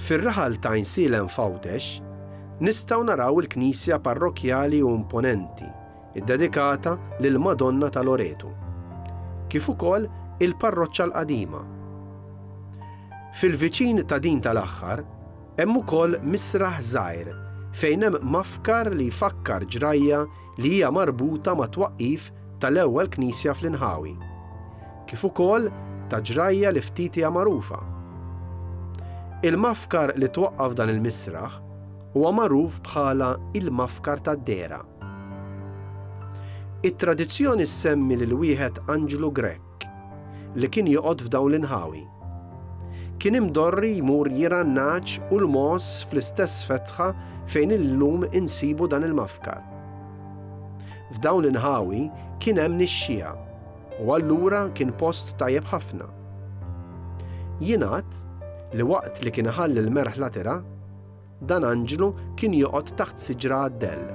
Fir-raħal t'Għajnsielem f'Għawdex nistgħu naraw il-knisja parrokkjali u imponenti ddedikata lill-Madonna ta' Loretu, kif ukoll il-parroċċa l-qadima. Fil-viċin ta' din tal-aħħar hemm ukoll misraħ żgħir fejn hemm mafkar li jfakkar ġrajja li hija marbuta mat-twaqqif tal-ewwel knisja fl-inħawi, kif ukoll ta' ġrajja li ftit hija magħrufa. Il-mafkar li twaqqaf dan il-misraħ huwa magħruf bħala il-Mafkar tad-Dehra. It-tradizzjoni ssemmi lil wieħed anġlu Grek. li kien joqgħod f'dawn l-inħawi. Kien imdorri jmur jirgħa n-nagħaġ u l-mogħoż fl-istess fetħa fejn illum insibu dan il-mafkar. F'dawn l-inħawi kien hemm nixxiegħa u allura kien post tajjeb ħafna. Jingħad li waqt li kien iħalli l-merħla tirgħa, Dan anġlu kien joqgħod taħt siġra għad-dell.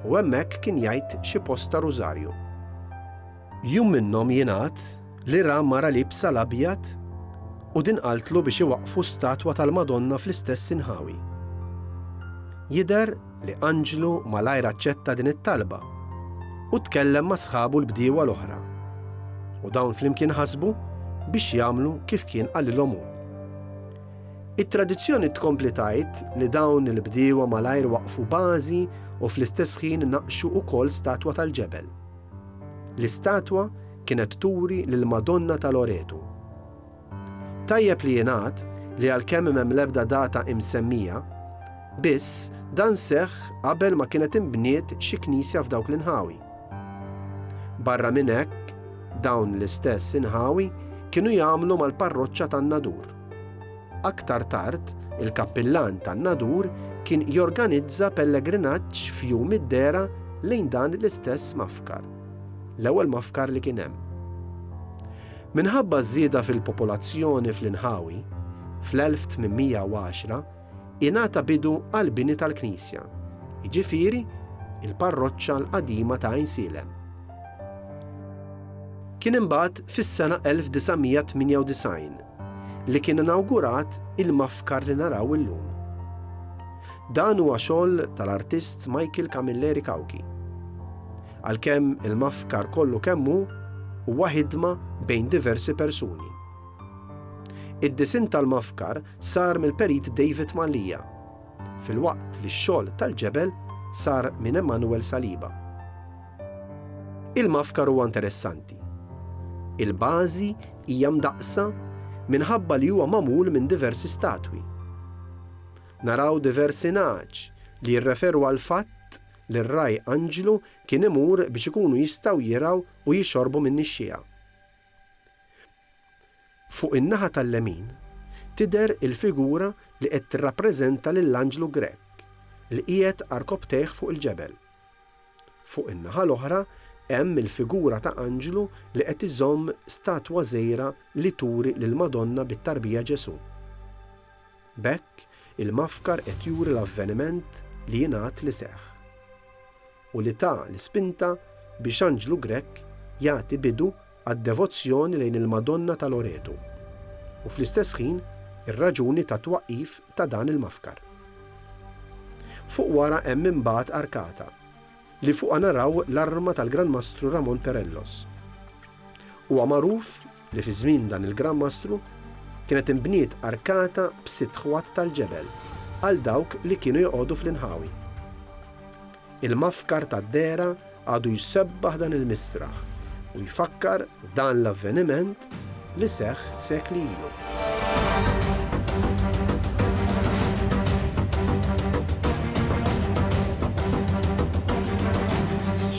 U hemmhekk kien jgħid xi posta rużarju. Jum minnhom jingħad li ra mara liebsa l-abjad u din qaltlu biex iwaqqfu statwa tal-Madonna fl-istess inħawi. Jidher li anġlu malajr aċċetta din it-talba u tkellem ma' sħabu l-bdiewa l-oħra. U dawn flimkien ħasbu biex jagħmlu kif kien qalilhom hu. It-tradizzjoni tkompli tgħid li dawn il-bdiewa malajr waqqfu bażi u fl-istess ħin naqqxu wkoll statwa tal-ġebel. L-istatwa kienet turi lill-Madonna ta' Loretu. Tajjeb li jingħad li għalkemm m'hemm l-ebda data imsemmija, biss dan seħħ qabel ma kienet inbniet xi knisja f'dawk l-inħawi. Barra minn hekk, dawn l-istess inħawi kienu jagħmlu mal-parroċċa tan-Nadur. Aktar tard, il-kappillan tan-Nadur kien jorganizza pellegrinaġġ f'Jum id-Dehra lejn dan l-istess mgħaskar, l-ewwel mgħaskar li kien hemm. Minħabba ż-żieda fil-popolazzjoni fl-inħawi, fl-1810, ingħata bidu għall-bini tal-knisja, jiġifieri l-parroċċa l-qadima ta' Għajnsielem. Kien imbagħad fis-sena 1998 li kien inawgurat il-mafkar li naraw illum. Dan huwa xogħol tal-artist Michael Camilleri Cauchi. Għalkemm il-mafkar kollu kemm hu huwa ħidma bejn diversi persuni. Id-disinn tal-mafkar sar mill-perit David Mallia, filwaqt li x-xogħol tal-ġebel sar minn Emmanuel Saliba. Il-mafkar huwa interessanti. Il-bażi hija mdaqqsa minħabba li huwa magħmul minn diversi statwi. Naraw diversi nagħaġ li jirreferu għall-fatt li r-Ragħaj Anġlu kien imur biex ikunu jistgħu jirgħu u jixorbu min-nixxiegħa. Fuq in-naħa tal-lemin tidher il-figura li qed tirrappreżenta lill-anġlu Grech li qiegħed għarkopptejh fuq il-ġebel. Fuq in-naħa l-oħra hemm il-figura ta' anġlu li qed iżomm statwa żgħira li turi lill-Madonna bit-tarbija Ġesù. B'hekk il-mafkar qed juri l-avveniment li jingħad li seħħ. u li ta l-ispinta biex Anġlu Grech jagħti bidu għad-devozzjoni lejn il-Madonna ta' Loretu, u fl-istess ħin ir-raġuni tat-twaqqif ta' dan il-mafkar. Fuq wara hemm imbagħad arkata, li fuqha naraw l-arma tal-Gran Mastru Ramon Perellos. Huwa magħruf li fi żmien dan il-Gran Mastru kienet inbniet arkata b'sitt ħwat tal-ġebel għal dawk li kienu joqogħdu fl-inħawi. Il-mafkar tad-dehra għadu jsebbaħ dan il-misraħ u jfakkar f'dan l-avveniment li seħħ sekli ilu.